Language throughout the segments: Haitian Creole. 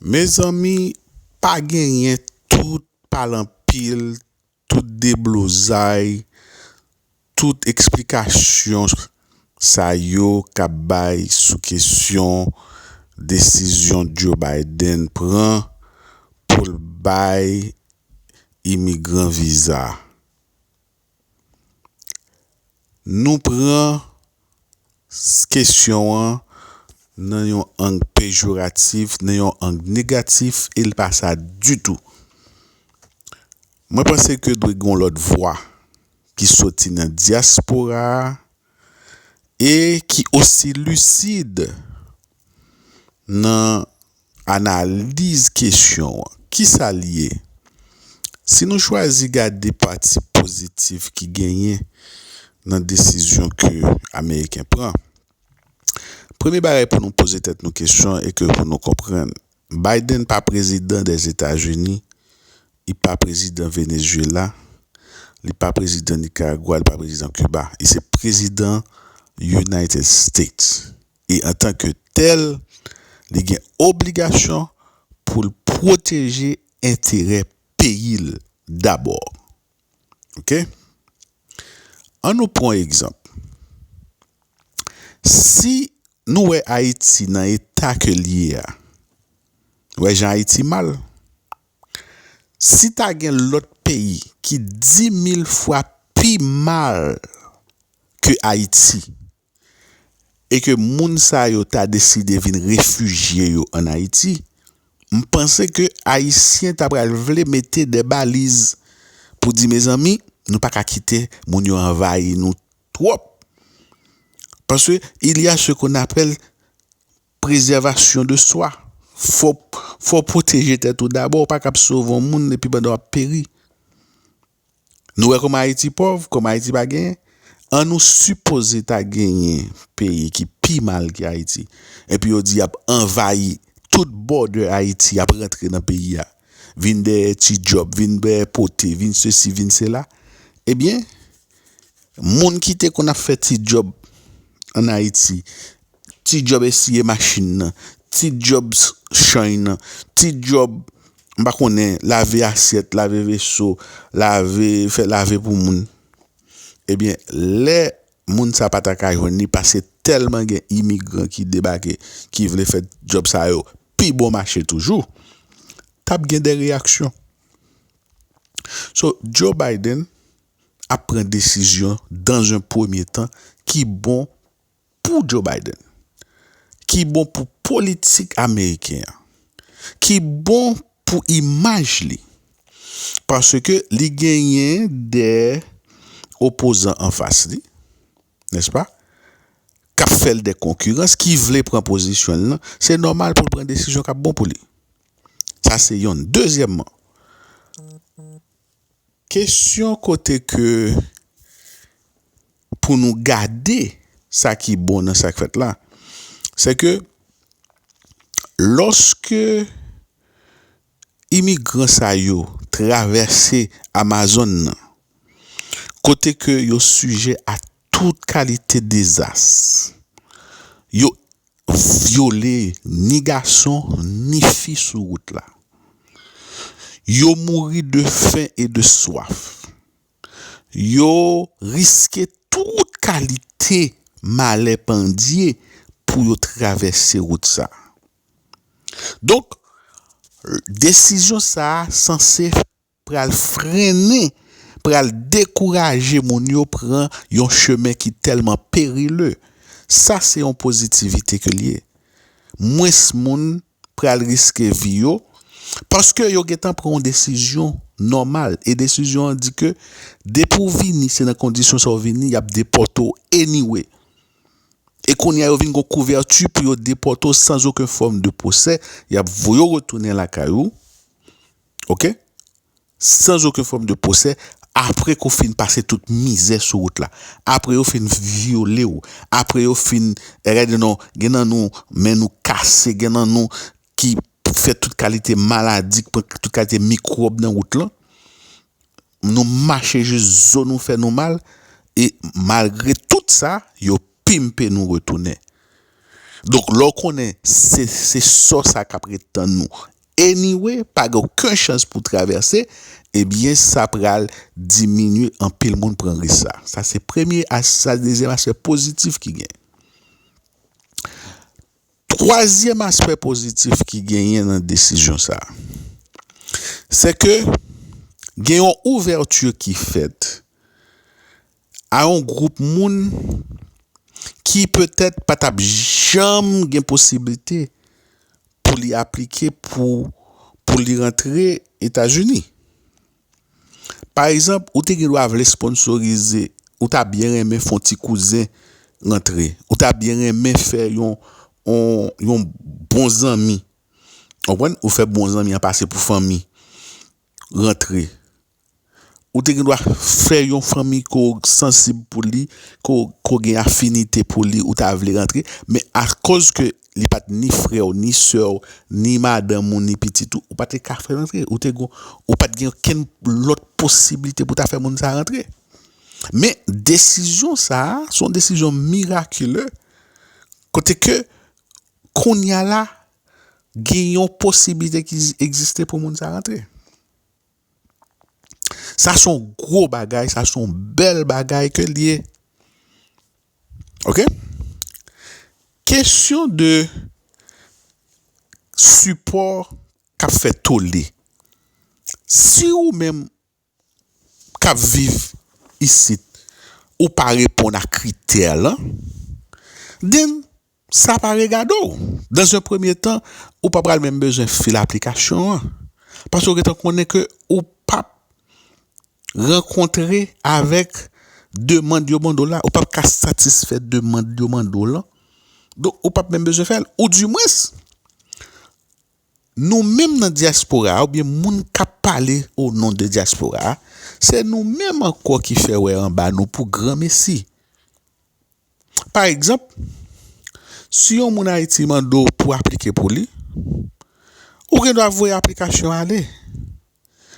Mezanmi pa genyen tout pale anpil tout deblozay tout eksplikasyon sa yo kap bay sou kesyon desizyon Joe Biden pran poul bay imigran viza. Nou pran kesyon an nan yon ang pejoratif, nan yon ang negatif, e li pa sa ditou. Mwen panse ke dwe gen yon lòt vwa ki soti nan dyaspora a e ki osi lisid nan analiz kesyon an. Ki sa l ye? Si nou chwazi gade pati pozitif ki genyen nan desizyon ke Ameriken pran, premye bagay pou nou poze tèt nou kesyon e ke pou nou konprann, Biden pa prezidan Dèzetazini, li pa prezidan Venezyela, li pa prezidan Nikaragwa, li pa prezidan Kiba. Li se prezidan United States. e antanke tèl li gen obligasyon pou l pwoteje enterè peyi l dabò ok an nou pwan egzanp si nou wè ayiti nan eta ke l ye a nou wè jan ayiti mal si ta gen lòt peyi ki dimil fwa pi mal ke ayiti e ke moun sa yo ta deside vin refijye yo an Ayiti, m panse ke Ayisyen ta pral vle mete de baliz pou di mezanmi nou pa ka kite moun yo anvayi nou twòp. Paske il y a ce qu'on appelle preservation de soi. Fò w pwoteje tèt ou dabò, ou pa kab sove yon moun epi pandan w ap peri. Nou wè kòman Ayiti pòv, kòman Ayiti pa genyen. An nou sipoze ta genyen peyi ki pi mal ke Ayiti, epi yo di y ap anvayi tout bòdè Ayiti, y ap rantre nan peyi a, vin dèyè ti djòb, vin dèyè pote, vin sesi, vin sela. Ebyen, moun ki te konn ap fè ti djòb ann Ayiti, ti djòb esiye machin nan, ti djòb chany nan, ti djòb m pa konnen lave asyèt, lave veso, lave fè lave pou moun. Ebyen lè moun sa pa ta ka jwenn li pase tèlman gen imigran ki debake ki vle fè djòb sa yo pi bon mache toujou t ap gen de reyaksyon. So Joe Biden ap pran desizyon dan ze premye tan ki bon. pou Joe Biden, ki bon pou politik ameriken an, ki bon pou imaj li, paske li genyen de opozan anfas li, nèspa, k ap fè l de konkirans, ki vle pran pozisyon l lan, se nòmal pou l pran desizyon k ap bon pou li. Sa se yonn. Dezyèmman. Kesyon kote ke pou nou gade sa ki bon nan sa k fèt la, se ke lòske imigran sa yo travèse Amazòn nan, kote ke yo sijè a Tout kalite dezas yo vyole ni gason ni fi sou wout la. Yo mouri de fen e de swaf. Yo riske tout kalite malè pandye pou yo travèse wout sa. Donk, desizyon sa a sanse pral frennen, pral dekouraje moun yo pran yon chemen ki tèlman perile. Sa se yon pozitivite ke l ye. Mwens moun pral riske vi yo, paske yo gentan pran yon desizyon nòmal, e desizyon an di ke depi w vini, se nan kondisyon sa w vini, y ap depòte w anyway. E kounye a yo vin gen yon kouvèti pou yo depòte w san oken fòm de pwosè, y ap voye w retounen lakay ou. Ok sans oken fòm de pwosè apre ke w fin pase tout mizè sou wout la apre yo fin vyole w apre yo fin gade nan gen nan nou men nou kase gen nan nou ki fè tout kalite maladi k pran tout kalite mikwòb nan wout lan. Nou mache jis zo nou fè nou mal e malgre tout sa yo pimpe nou retounen. Donk lè w konnen se se sò sa k ap ret tann nou anyway pa gen oken chans pou w travèse ebyen sa pral diminye anpil moun pran risk sa. Sa se premye as sa dezyèm aspè pozitif ki gen. Twazyèm aspè pozitif ki genyen nan desizyon sa a, se ke gen yon ouvèti ki fèt a yon gwoup moun ki petèt pa t ap janm gen posiblite pou li aplike pou li rantre Etazini. Pa egzanp, ou te gen dwa vle sponnsorize, ou ta byen renmen fon ti kouzen rantre, ou ta byen renmen fè yon yon bon zanmi, konprann, ou fè bon zanmi an pase pou fanmi rantre. Ou te gen dwa fè yon fanmi ke w sansib pou li, ke w gen afinite pou li, ou ta vle rantre, men akoz ke li pa t ni frè w, ni sè w, ni madanm ou, ni pitit ou, ou pa te ka fè l antre. Ou te gon, ou pa t gen okenn lòt posibilite pou ta fè moun sa a rantre. Men, desizyon sa a, se yon desizyon mirakile, kote ke, kounya la, gen yon posibilite ki egziste pou moun sa a rantre. Sa son gwo bagay, sa son bèl bagay ke liye. Ok? Kesyon de sipò kap fè tole. Si ou menm kap viv isit, ou pa reponn a kritè lan, den Sa pa regade w. Dans un premye tan, ou pa pral menm bezwen fil aplikasyon an. Paske ou gentan konnen ke ou pap rankontre avèk demand yo mande w la. Ou pap ka satisfè demand yo mande w lan. Donk ou pap menm bezwen fè l. Ou di mwens, nou menm nan dyaspora a, ou byen moun kap pale o non de dyaspora a, se nou menm ankò ki fè wè anba nou pou granmesi. Pa egzanp, si yon moun Ayiti mande w pou aplike pou li, ou gen dwa voye aplikasyon an ale,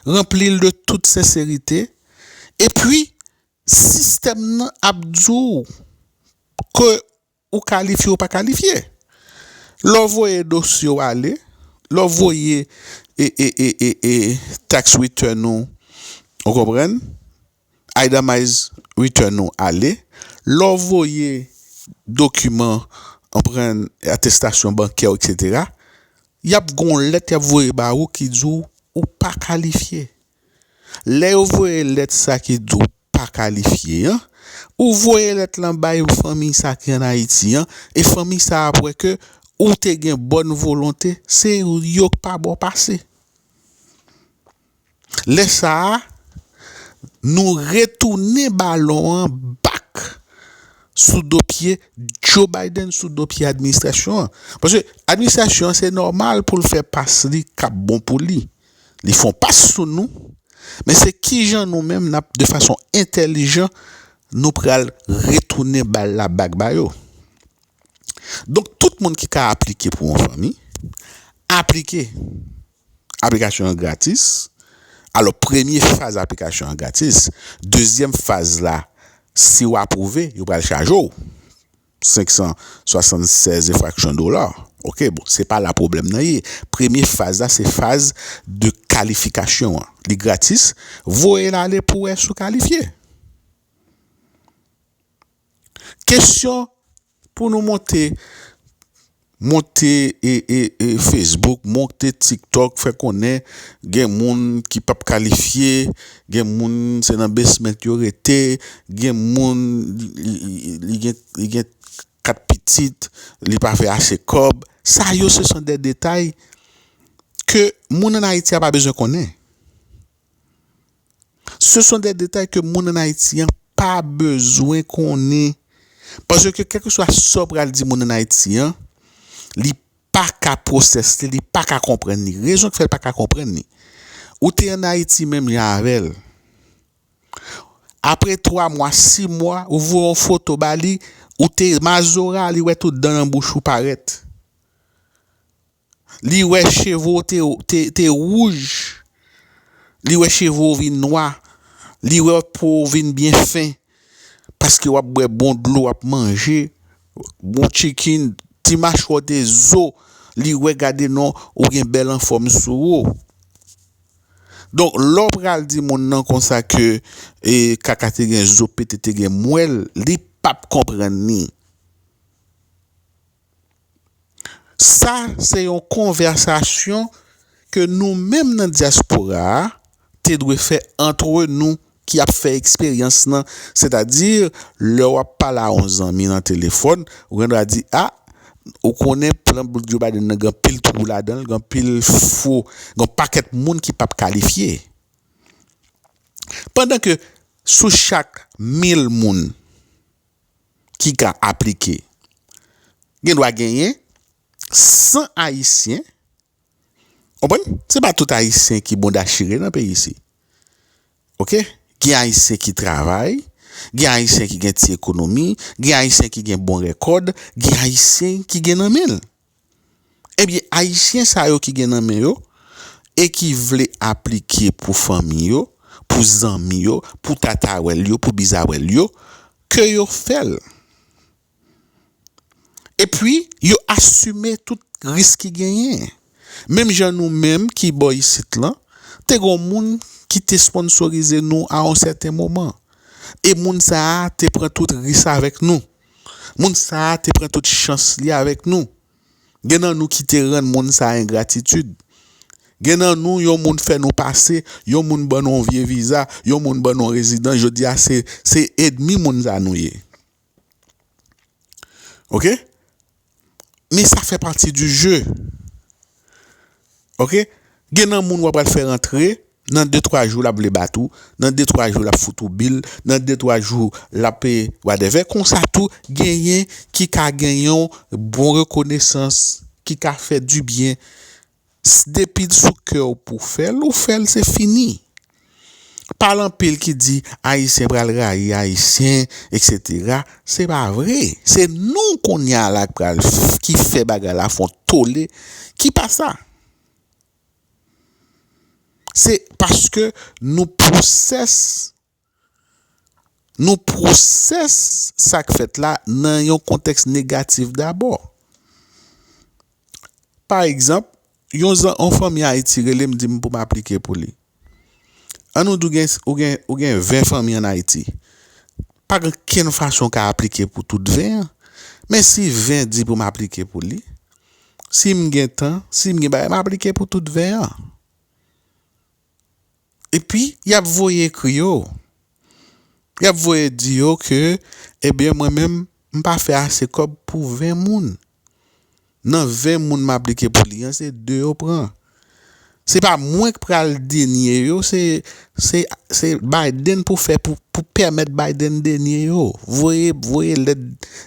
ranpli l de tout senserite, epi sistèm nan ap di w ke ou kalifye ou pa kalifye. Lè w voye dosye w ale, lè w voye tax return ou, ou konprann, Aida Mize return ou ale lè w voye dokiman anpren atestasyon bankè w etc yap gen yon lèt yap voye ba ou ki di w ou pa kalifye lè yo voye lèt sa ki di w pa kalifye an ou voye lèt lan bay fanmiy sa ki an ayiti an e fanmiy sa ap wè ke ou te gen bòn volonte se yo k pa ba w pase. Lè sa a, nou retounen balon an back sou do pye Joe Biden, sou do pye administrasyon an. Paske administrasyon an se nòmal pou l fè pas li k ap bon pou li. Li fè yon pas sou nou, men se kijan nou menm n ap de fason entèlijan nou pral retounen bal la back ba yo. Donk tout moun ki ka aplike pou yon fanmi, aplike. Aplikasyon an gratis. Alò premye faz aplikasyon an gratis. Dezyèm faz la, si ou apwouve, yo pral chaje ou 576 e fraksyon dola. Ok, bon, se pa la pwoblèm nan ye. Premye faz la se faz de kalifikasyon an. Li gratis, voye l ale pou wè si ou kalifye. Kesyon. Pou nou monte monte facebook monte tiktok fè konnen gen moun ki pap kalifye gen moun se nan besment yo rete gen moun li gen 4 pitit li pa fè ase kòb sa yo se son de detay ke moun an ayiti a pa bezwen konnen. Se son de detay ke moun an Ayiti an pa bezwen konnen. Paske ke kèlke swa sa w pral di moun an Ayiti an, li pa ka pwosès li, li pa ka konprann li. Rezon ki fè l pa ka konprann li, ou te an Ayiti menm jan avè l, apre twa mwa, si mwa, ou voye yon foto ba li, ou te mazora, li wè tout dan nan bouch ou parèt. Li wè cheve w te wouj, li wè cheve w vin nwa, li wè po w vin byen fen, paske w ap bwè bon dlo, w ap manje bon chicken, ti machwè w te zo, li wè gade non ou gen bèl anfòm sou ou. Donk lè w pral di moun nan konsa ke kaka te gen zo, pete te gen mwèl, li p ap konprann li. Sa se yon konvèsasyon ke nou menm nan dyaspora a te dwe fè antre nou ki ap fè eksperyans lan. Sètadi, lè w ap pale a yon zanmi nan telefòn, ou gen dwa di, a, ou konnen plan bout Djo Biden nan gen anpil twou ladan l, gen anpil fo, gen yon pakèt moun ki pap kalifye. Pandan ke sou chak mil moun. ki ka aplike, gen dwa genyen 100 ayisyen, konprann, se pa tout ayisyen ki bonda chire nan peyi isi, ok, gen ayisyen ki travay, gen ayisyen ki gen ti ekonomi, gen ayisyen ki gen bon rekòd, gen ayisyen ki gen nan men l. Ebyen ayisyen sa yo ki gen nan men yo e ki vle aplike pou fanmi yo, pou zanmi yo, pou tatawèl yo, pou bizawèl yo, ke yo fè l. E pwi yo asime tout risk ki genyen. Menm jan nou menm ki bò isit lan, te gon moun ki te sponsorize nou a yon sèten moman. E moun sa a te pran tout ris avèk nou. Moun sa a te pran tout chans li avèk nou. Gen nan nou ki te rann moun sa a engratitid. Gen nan nou yon moun fè nou pase, yon moun ban nou yon vye viza, yon moun ban nou yon rezidans, jodi a se edmi moun sa a nou ye. Ok? Men sa fè pati di je ok gen nan moun wap pral fè rantre nan de twa jou lap vle bat ou nan de twa jou lap fout ou bil nan de twa jou lap wadèvè konsa tou genyen ki ka gen yon bon rekonesans ki ka fè dibyen. S depil sou kèw pou fèl ou fèl se fini pale anpil ki di ayisyen pral rayi ayisyen etc se pa vre se nou kounya la pral ki fè bagay la fon tole ki pa sa se paske nou pwosès. Nou pwosè sa k fèt la nan yon kontèks negatif dabò. Pa egzanp, yon fanmi Ayiti rele m di m pou m aplike pou li. An nou di ou gen 20 fanmi ann Ayiti. Pa gen okenn fason w ka aplike pou tout 20 an. Men si 20 di pou m aplike pou li, si m gen tan, si m gen bagay, m aplike pou tout 20 an. epi y ap voye ekri yo, y ap voye di yo ke ebyen mwen menm m pa fè ase kòb pou 20 moun, nan 20 moun m aplike pou li an se 2 yo pran. Se pa mwen k pral denye yo se Biden pou fè pou pèmèt Biden denye yo, voye voye lèt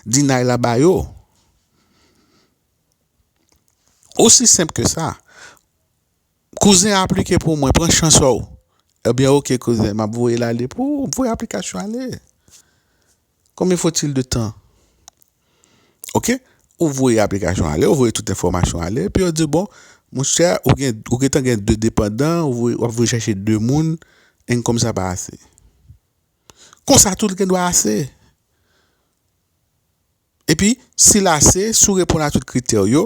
dinay la ba yo. Osi senp ke sa. Kouzen aplike pou mwen pran chans ou. Ebyen ok kouzen map voyel ale pou ou voye aplikasyon ale konbyen fotil de tan ok ou voye aplikasyon ale ou voye tout enfòmasyon ale epi yo diw bon monchè ou gen ou gentan gen 2 depandan ou voye wap voye chèche 2 moun enkom sa pa ase konsa tou li gendwa ase. Epi, si l ase, si w reponn a tout kritè w yo,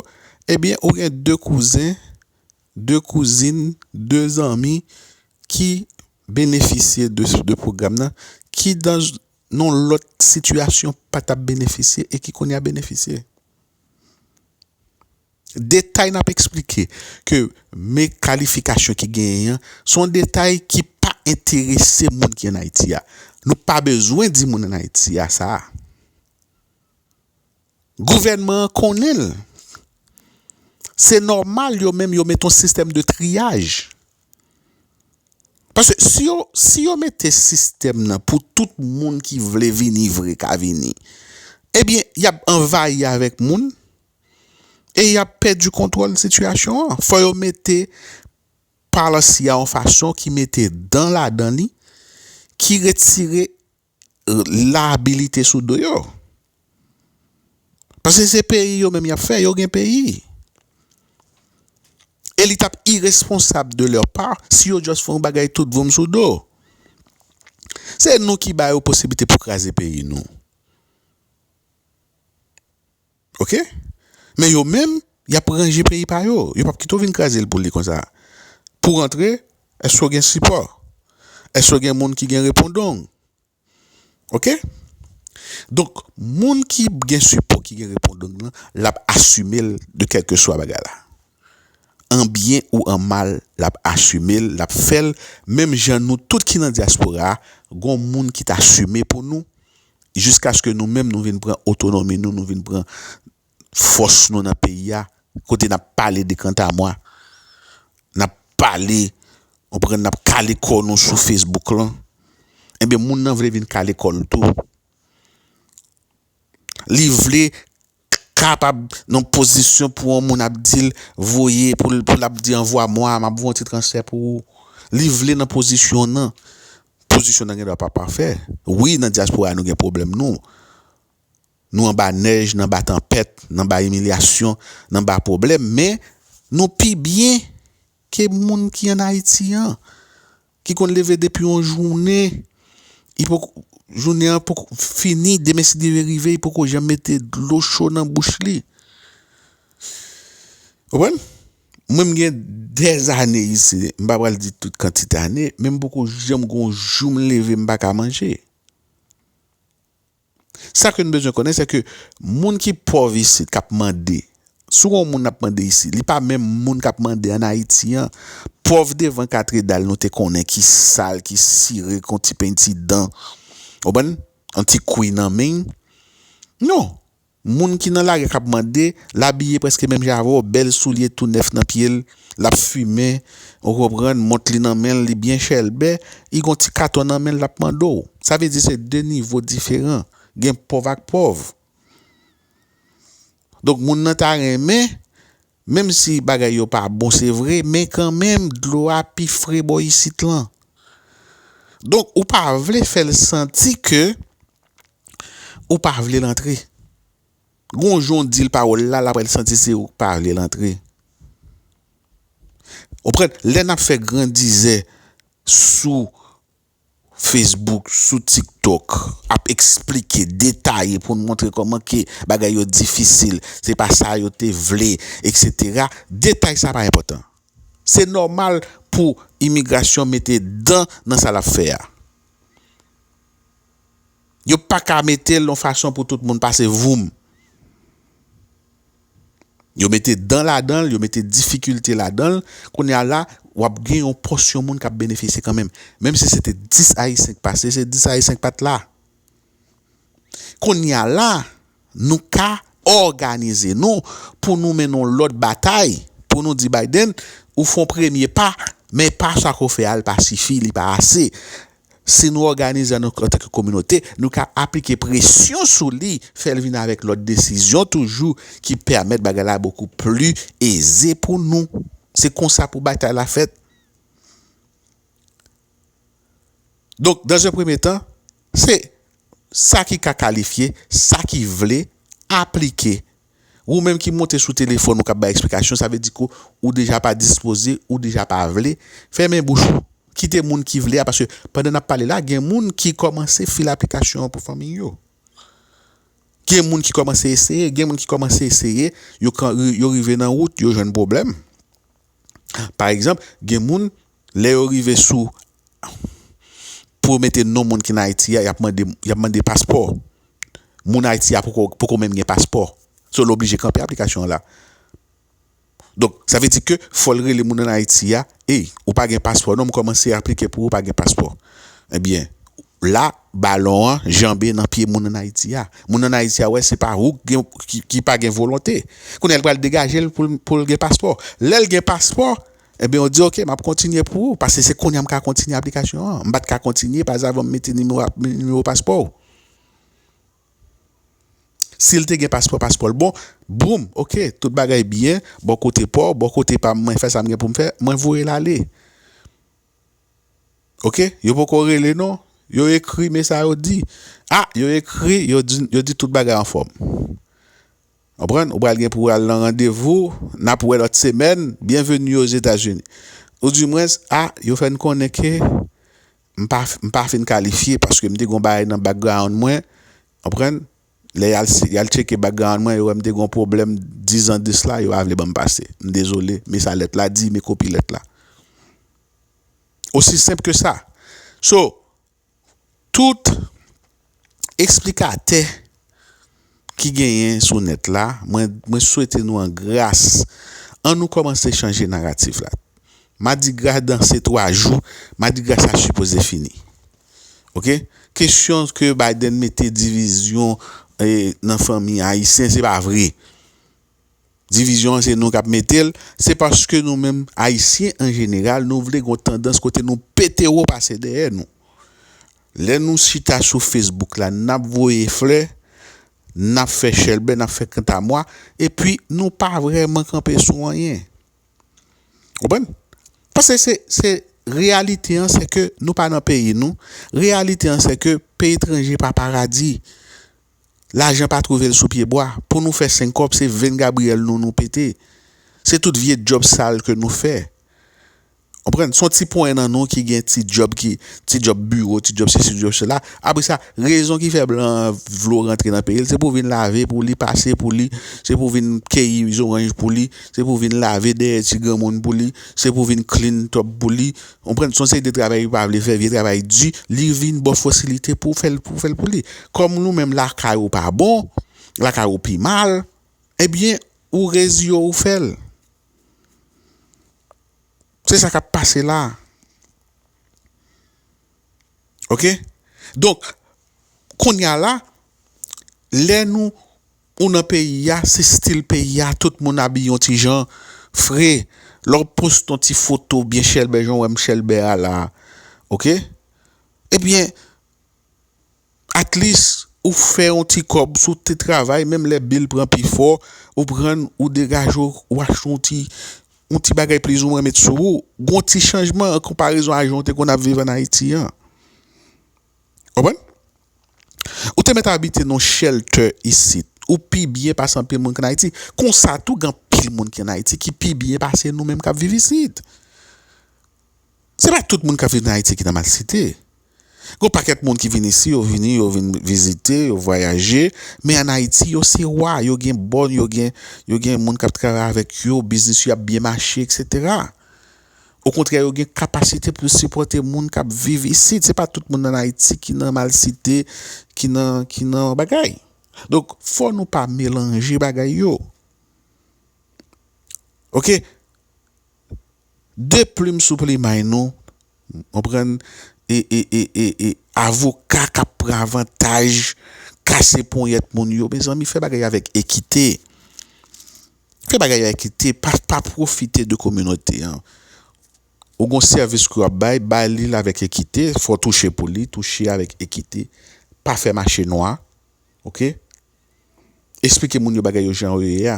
ebyen ou gen de kouzen, de kouzin, de zanmi ki benefisye de pwogram nan, ki nan yon lòt sitiyasyon pa t ap benefisye e ki kounye a benefisye. Detay n ap eksplike ke me kalifikasyon ki genyen an se yon detay ki pa enterese moun ki ann Ayiti a. Nou pa bezwen di moun ann Ayiti a sa a. Gouvènman an konnen l. Se nòmal yo menm yo mete yon sistèm de triyaj. Paske si yo mete sistèm nan pou tout moun ki vle vini vre ka vini, ebyen y ap anvayi avèk moun. e y ap pèdi kontwòl sitiyasyon an. Fò yo mete policy a yon fason ki mete dan ladan li, ki retire labilite sou do yo. Pase se peyi yo menm y ap fè, yo gen peyi. E li t ap iresponsab de lè pa si yo just fè yon bagay tout voum sou do. Se nou ki ba yo posiblite pou kraze peyi nou. Ok men yo menm yap ranje peyi pa yo yo pap kite w vin kraze l pou li konsa pou w antre èske w gen sipò èske w gen moun ki gen repondong ok donk moun ki gen sipò ki gen repondong lan lap asime l de kèlkeswa bagay la. an byen ou an mal lap asumel lap fèl menm jan nou tout ki nan diaspora gon moun ki t asume pou nou jiskaske nou menm nou vin pran otonomi nou nou vin pran fòs nou nan peyi a kote nap pale de kantamwa nap pale ou konprann nap kale kò nou sou facebook lan ebyen moun nan vle vin kale kòl tou li vle kapab nan pozisyon pou yon moun ap dil voye pou l ap di anvwa mwa map voye yon ti transfè pou ou li vle nan pozisyon nan pozisyon nan gen dwa pa pafè wi nan dyaspora nou gen pwoblèm nou nou anba nèj nan ba tanpèt nan ba imilyasyon nan ba pwoblèm men nou pi byen ke moun ki an ayiti an. ki konn leve depi yon jounen li poko jounen an poko fini demen si demen rive li poko janm mete dlo cho nan bouch li ou konprann mwen m gen dèzane isi m pa pral di tout kantite ane men m poko janm gon jou m leve m paka manje. Sa ke n bezwen konnen se ke moun ki pòv isit, k ap mande, si w gen yon moun ap mande isit, li pa menm moun k ap mande ann Ayiti an. Pòv devan katredal nou te konnen ki sal, ki sire, ki yon ti penti dan, w konprann, yon ti kouy nan men. Non! Moun ki nan lari a k ap mande, l abiye prèske menm jan avè w, bèl soulye tou nèf nan pye l, l ap fimen, ou konprann, mont li nan men l, li byen chèlbè, li gen yon ti katon nan men l, l ap mande w. Sa vle di se de nivo diferan, gen pòv ak pòv. Donk moun nan ta renmen, menm si bagay yo pa bon se vre, men kanmenm dlo a pi fre bò isit lan. Donk ou pa vle fè l santi ke. Ou pa vle l antre. Gon jan w di l pawòl la, l aprè l santi se ou k pa vle l antre. Ou konprann? Lè n ap fè grandizè sou Facebook, sou TikTok, ap esplike, detaye pou n montre kòman ke bagay yo difisil, se pa sa yo te vle, eksetera, detay sa pa enpòtan. Se nòmal pou imigrasyon mete dan nan sa l ap fè a. Yo paka metel yon fason pou tout moun pase voum. Yo mete dan ladanl, yo mete difikilte ladanl, kounye a la wap gen yon pòsyon moun kap benefisye kanmenm. Menm si se te 10 ayisyen ki pase, se 10 ayisyen ki pat la. Kounye a la nou ka òganize nou pou nou mennen yon lòt batay pou nou di Biden ou fon premye pa men pa sa ke w fè a li pa sifi, li pa ase. Si nou òganize an tanke kominote, nou ka aplike presyon sou li, fè l vin avèk lòt desizyon toujou ki pèmèt bagay la bokou pli eze pou nou. Se konsa pou batay la fèt. Donk, dan ze premye tan, se sa ki ka kalifye, sa ki vle aplike Wou menm ki monte sou telefòn ou kap bay eksplikasyon sa vle di ke ou deja pa dispoze, ou deja pa vle, fèmen bouch ou, kite moun ki vle a paske pandan nap pale la gen moun ki kòmanse fil aplikasyon an pou fanmiy yo. Gen moun ki kòmanse eseye, gen moun ki kòmanse eseye yo rive nan wout yo jwenn pwoblèm. Pa egzanp gen moun Lè yo rive sou pou yo mete non moun ki nan Ayiti a, y ap mande y ap mande paspò. Moun Ayiti a poko poko menm gen paspò. So l oblije kanpe aplikasyon an la. Donk, sa vle di ke fò l rele moun an Ayiti a, Ey, ou pa gen paspò non, m kòmanse aplike pou ou pa gen paspò. Ebyen, la balon an janbe nan pye moun an Ayiti a. Moun an Ayiti a wè se pa ou k gen ki pa gen volonte. Kounye a l pral degaje l pou l pou l gen paspò. Lè l gen paspò, Ebyen ou di ok map kontinye pou ou paske se konya m ka kontinye aplikasyon an. M pat ka kontinye pa zavan m mete nimewo paspò ou. Si l te gen paspò, paspò l bon, boum, ok, tout bagay byen, bò kote pa w, bò kote pa m, mwen fè sa m gen pou m fè, mwen voye l ale. Ok, yo poko rele non, yo ekri men sa yo di. A, yo ekri, yo di tout bagay anfòm. Konprann? Ou pral gen pou al nan randevou, n ap wè lòt semèn, byenveni Ozetazini. Ou di mwen, a, yo fè n konnen ke m pa, m pa fin kalifye paske m te gen yon bagay nan background mwen, konprann, lè y al, y al tcheke background mwen, yo wè m te gen yon pwoblèm dizan de sla, yo pa vle ban m pase. M dezole, men sa lèt la di, men kopi lèt la. Osi senp ke sa. So. Tout esplikatè ki genyen sou nèt la mwen swete nou an gras an nou kòmanse chanje naratif la madigra danse 3 jou madigra sa sipoze fini ok kesyon ke Biden mete divizyon nan fanmi ayisyen se pa vre. Divizyon an se nou kap mete l, se paske nou menm ayisyen an jeneral nou vle gen yon tandans kote nou pete wo pase dèyè nou. Lè nou chita sou Facebook la nap voye flè, nap fè chèlbè, nap fè kantamwa epi nou pa vrèman kanpe sou anyen. Ou konprann? Pase se se reyalite an se ke nou pa nan peyi nou, reyalite an se ke peyi etranje pa paradi. Lajan pa trouve l sou pye bwa. Pou nou fè senkòb se venn Gabriel nou nou pete. Se tout vye djòb sal ke nou fè. Konprann? Son ti ponyen nan nou ki gen ti djòb ki, ti djòb biwo, ti djòb sesi, ti djòb sela. Apre sa, rezon ki fè blan an vle w rantre nan peyi l, se pou w vin lave pou li, pase pou li, se pou w vin keyi zoranj pou li, se pou w vin lave dèyè ti granmoun pou li, se pou w vin clean top pou li, Konprann son seri de travay li pa vle fè vye travay di li vin baw fòs li te pou fèl pou fèl pou li kòm nou menm lakay ou pa bon lakay ou pi mal ebyen ou reziye w ou fèl se sa kap pase la ok donk kounya la lè nou ou nan peyi a se stil peyi a tout moun abiye yon ti jan fre lè w poste yon ti foto byen chèlbè jan w wè m chèlbè a la ok ebyen at lis ou fè yon ti kòb sou ti travay menm lè bil pran pi fò ou pran ou degaje w ou achte yon ti yon ti bagay plizoumwen met sou ou gon ti chanjman an konparezon a jan w te konn ap viv an Ayiti an. Konprann? Ou te mèt abite nan yon shelter isit. Ou pi byen pase anpil moun ki ann Ayiti. Konsa tou, gen anpil moun ki ann Ayiti ki pi byen pase nou menm k ap viv isit. Se pa tout moun k ap viv nan Ayiti ki nan malsite. Gen yon pakèt moun ki vin isi, yo vini, yo vin vizite, yo vwayaje. Men ann Ayiti, yo se wa. Yo gen bòn, yo gen moun k ap travay avèk yo, biznis yo ap byen mache, eksetera. Okontrè yo gen kapasite pou yo sipòte moun k ap viv isit. Se pa tout moun nan Ayiti ki nan malsite, ki nan, ki nan bagay. Donk, fò nou pa melanje bagay yo. Ok? De plim sou plimay nou, konprann, e, e, e, e, e, avoka k ap pran avantaj, kase ponyèt moun yo. Mezanmi, fè bagay yo avèk ekite. Fè bagay yo ekite, pa pwofite de kominote an. Ou gen yon sèvis ke w ap bay, bay li l avèk ekite, fò w touche pou li, touche avèk ekite, pa fè mache nwa, ok. Esplike moun yo bagay yo jan yo ye a.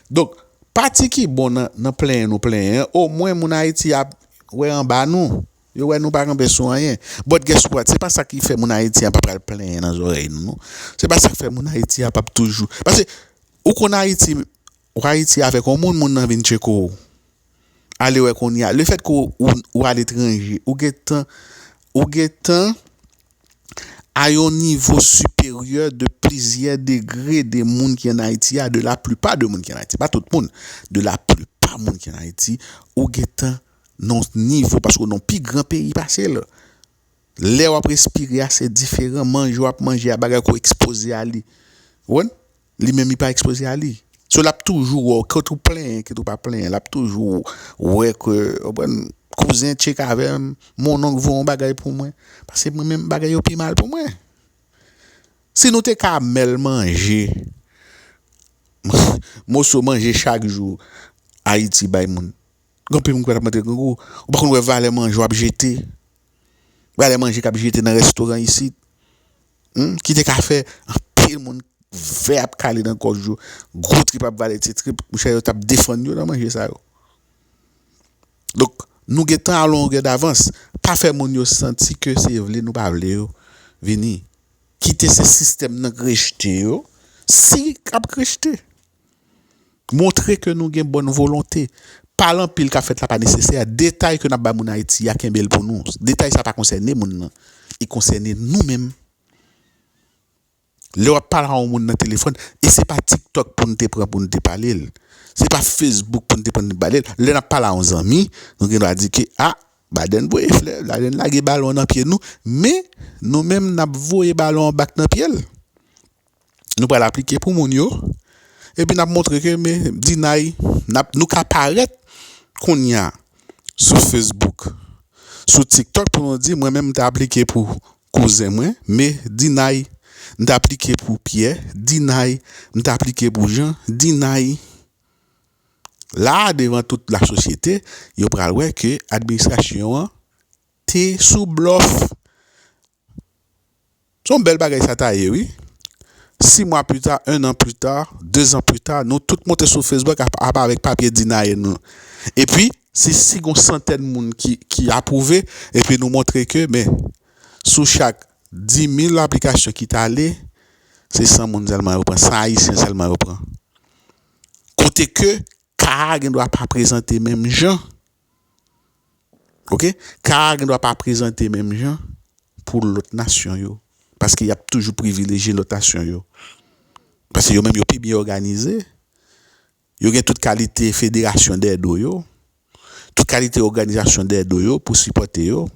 Donk, pati ki bon nan plenyen nou plenyen an, omwen moun Ayiti ap wè anba nou. Yo wè nou pa kanpe sou anyen. But guess what? Se pa sa ki fè moun Ayiti a pa pral plenyen nan zòrèy nou non. Se pa sa k fè moun Ayiti a pap toujou. Pase, ou konn Ayiti, ou Ayiti avèk yon moun, moun nan vin tcheko w. Alewè kounye a, lefèt ke ou aletranje, ou gen tan, ou gen tan a yon nivo siperyè de plizyè degre de moun ki an Ayiti a, de laplipa de moun ki an Ayiti, pa tout moun, de laplipa moun ki an Ayiti, ou gen tan Non nivo paske w nan pi gran peyi pase l. Lè w ap respire a se diferan. Manje w ap manje a bagay ke w ekspoze a li. Ou konprann? Li menm li pa ekspoze a li. So l ap toujou wè w kit ou plenyen kit ou pa plenyen. L ap toujou wè ke ou konprann kouzen tchek avè m, mononk voye yon bagay pou mwen. Paske mwen menm bagay yo pi mal pou mwen. Si nou te ka mèl manje moso manje chak jou Ayiti bay moun. Gen anpil moun ki pa t ap manje grangou. Ou pa konn wè valè manje w ap jete. Valè manje k ap jete nan restoran isit. Ki te ka fè anpil moun vè ap kale nan gòj yo. Gwo trip ap vale ti trip. Monchè yo t ap defann yo nan manje sa yo. Donk, nou gen tan a longè davans. Pa fè moun yo santi ke se vle nou pa vle yo vini. Kite se sistèm nan k rejte yo. Si k ap k rejte. Montre ke nou gen bòn volonte. Pale anpil kap fèt la pa nesesè. Detay ke nap bay moun Ayiti a kenbe l pou nou. Detay sa pa konsène moun nan. Li konsène nou menm. Lè wap pale a yon moun nan telefòn, e se pa tiktok pou nou te pran pou nou te pale l. Se pa facebook pou nou te pran pou nou te pale l. Lè nap pale a yon zanmi, nou gen dwa di ke a, Baden voye flè, Baden lage balon nan pye nou, men nou menm nap voye balon an bak nan pye l. nou pral aplike pou moun yo, epi nap montre ke me di nay nap nou ka parèt kounya sou Facebook sou tiktok pou nou di mwen menm mte aplike pou kouzen mwen me di nay mte aplike pou pyè di nay mte aplike pou jan di nay la devan tout la sosyete yo pral wè ke administrasyon an te sou blòf Se yon bèl bagay sa ta ye wi. Si mwa pita, 1 an pita, 2 zan pita, nou tout monte sou Facebook ap avèk papye Dinaye nou. Epi, si si gon santèn moun ki apwouve, epi nou montre ke men, sou chak 10.000 aplikasyon ki t ale, se 100 moun sèlman yo pran, 100 Ayisyen sèlman yo pran. Kote ke ka a gen dwa pa prezante menm jan. Ok ka a gendwa pa prezante menm jan pou lòt nasyon yo paske y ap toujou privilejye lòt nasyon yo paske yo menm yo pi byen òganize yo gen tout kalite federasyon dèyè do yo tout kalite òganizasyon dèyè do yo pou sipòte yo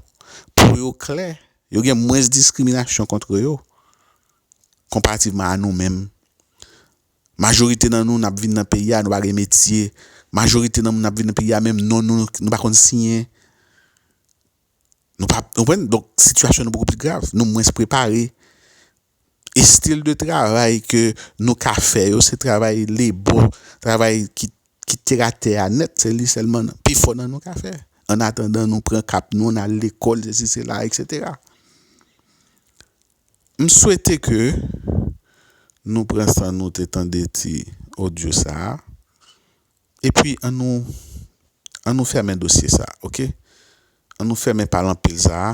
pou yo klè yo gen mwens diskriminasyon kontre yo konparativman a nou menm Majorite nan nou nap vin nan peyi a nou pa gen metye, majorite nan moun nap vin nan peyi a menm non nou nou pa konn siyen, nou pa konprann donk sitiyasyon nou poko pi grav, nou mwens prepare, estil de travay ke nou ka fè yo se travay lebo, travay ki teratè a nèt se li sèlman pi fò nan nou ka fè annatandan nou pran kap nou nal lekòl sesi sela eksetera. M swete ke nou pran san nou te tande ti audio sa a, epi an nou an nou fèmen dosye sa a ok, an nou fèmen pale anpil sa a,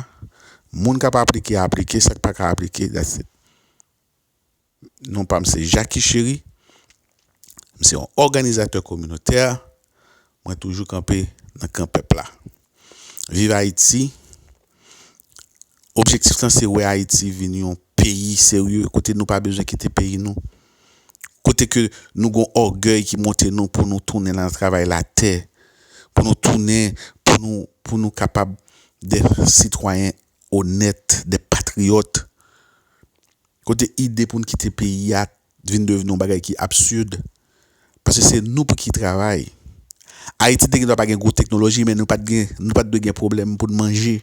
moun k ap aplike aplike, sa k pa ka aplike that's it. Non pa m se Jackycheri. M se yon òganizatè kominotè, mwen toujou kanpe nan kan pèp la. Viv Ayiti, objektif lan se wè Ayiti vin yon peyi serye, kote nou pa bezwen kite peyi nou, kote ke nou gon ògèy ki monte nou pou nou tounen nan travay latè, pou nou tounen pou nou pou nou kapab dè sitwayen onèt, dè patriyòt. Kote ide pou n kite peyi a t vin devni yon bagay ki absurd paske se nou pou ki travay. Ayiti te gen dwa pa gen gwo teknoloji men nou pat gen nou pat dwe gen pwoblèm pou n manje.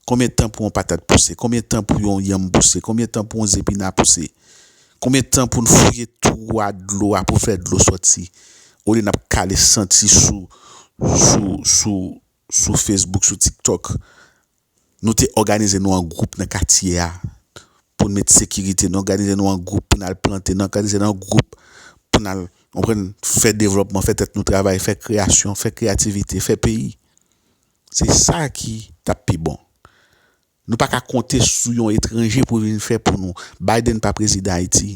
Konbyen tan pou yon patat pouse? Konbyen tan pou yon yanm pouse? Konbyen tan pou yon zepina pouse? Konbyen tan pou n fouye twou a dlo a pou fè dlo sòti olye n ap kale senti sou sou sou sou Facebook, sou TikTok, nou te òganize nou an gwoup nan katye a pou n met sekirite, nou òganize nou an gwoup pou n al plante, nou òganize nou an gwoup pou n al, ou konprann, fè devlòpman, fè tèt nou travay, fè kreyasyon, fè kreyativite, fè peyi. Se sa ki t ap pi bon. Nou pa ka konte sou yon etranje pou vin fè pou nou. Biden pa prezidan Ayiti.